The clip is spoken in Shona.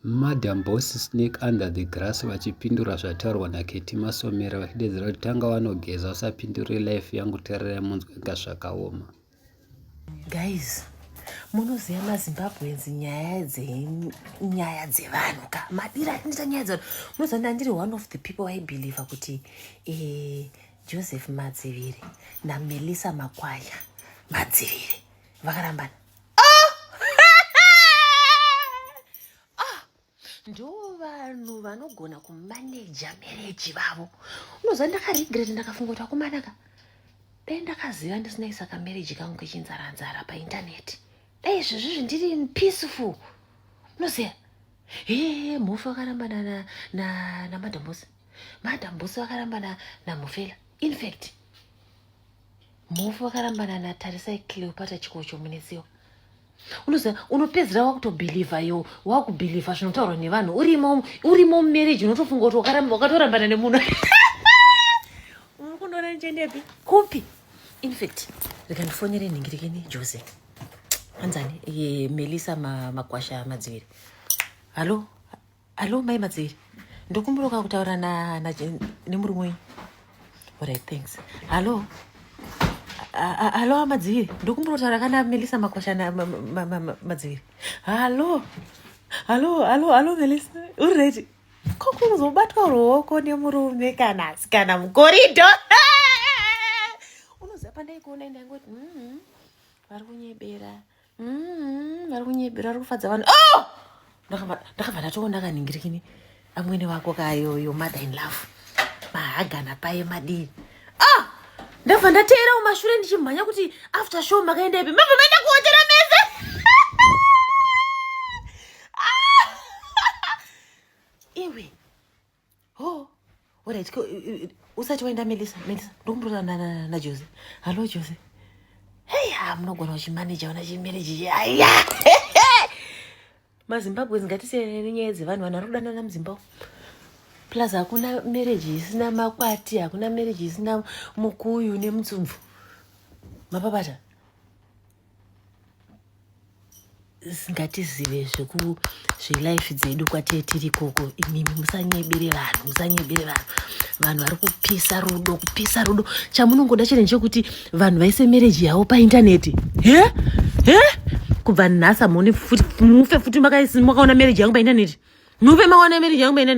Madam Boss Snake Under the Grass vachipindura zvataurwa naKetty Masomera vachideedzera kuti tanga wanogeza usapindure life yangu tererai munzwe inga zvakaoma. Guys, munoziva mazimbabweans nyaya dzenyaya dzevanhu ka madira atinoita nyaya dzevanhu munoziva ndandiri one of the people vaibelieve kuti eh, joseph madziviri namelissa makwaya madziviri vakarambana ah! ah! ndo vanhu vanogona kumaneja mereji vavo unoziva ndakaregreta ndakafunga kuti akumanaka dai ndakaziva ndisinaisa kamereji kangu kechinzaranzara paintaneti dai izvezvizvi ndiri peaceful unoziva hee mhofu vakarambana namadambosi na, na madambosi vakarambana namufela infact Mhofu vakarambana natarisai Cleopatra chikocho munetsiwa unoziva unopedzera wakutobhilivha yo wakubhilivha zvinotaurwa nevanhu urimo urimo mumarriage unotofunga kuti wakatorambana nemunhu unokundoona nichendepi kupi infact rikandifonere nhingirekeni jose anzani melisa makwasha madziviri halo Hello, Mai Madziri. Ndokumburuka kutaura na, na, nemurume wenyu. Alright, thanks. Hello. Hello, Madziri. Ndokumburuka kutaura kana Melissa Makwasha na ma, ma, ma, ma, Madziri. Hello. Hello, hello, hello, Melissa. Uri ready? Ko kuzobatwa ruoko nemurume kana asikana mukorido. Unoziva pandai kuona ndangoti, mm, vari kunyebera. mm, vari kunyebera vari kufadza vanhu oh! ndakabva ndatoona akaningirikini amwene wako kayoyo mother in love mahagana paye madii ah! ndabva ndateera umashure ndichimhanya kuti after show makaenda ipi mabva maenda kuhotera mese ah! iwe oh orit usati waenda melisa melisa ndokumbotaura najose hallo jose hei ha munogona uchimaneja ona chimereji chiaya mazimbabwens ngatisiyane nenyaya dzevanhu vanhu vari kudanana muzimbabwe plus hakuna mereji isina makwati hakuna mereji isina mukuyu nemutsumvu mapapata ngatizive zveku zvelife dzedu kwatee tiri ikoko imimi musanyebere vanhu musanyebere vanhu vanhu vari kupisa rudo kupisa rudo chamunongoda chete ndechekuti vanhu vaise mereji yavo paintaneti he he kubva nhasi hamuoni futi mufe futi makaona mereji yangu paintaneti mufe makaona mereji yangu paintaneti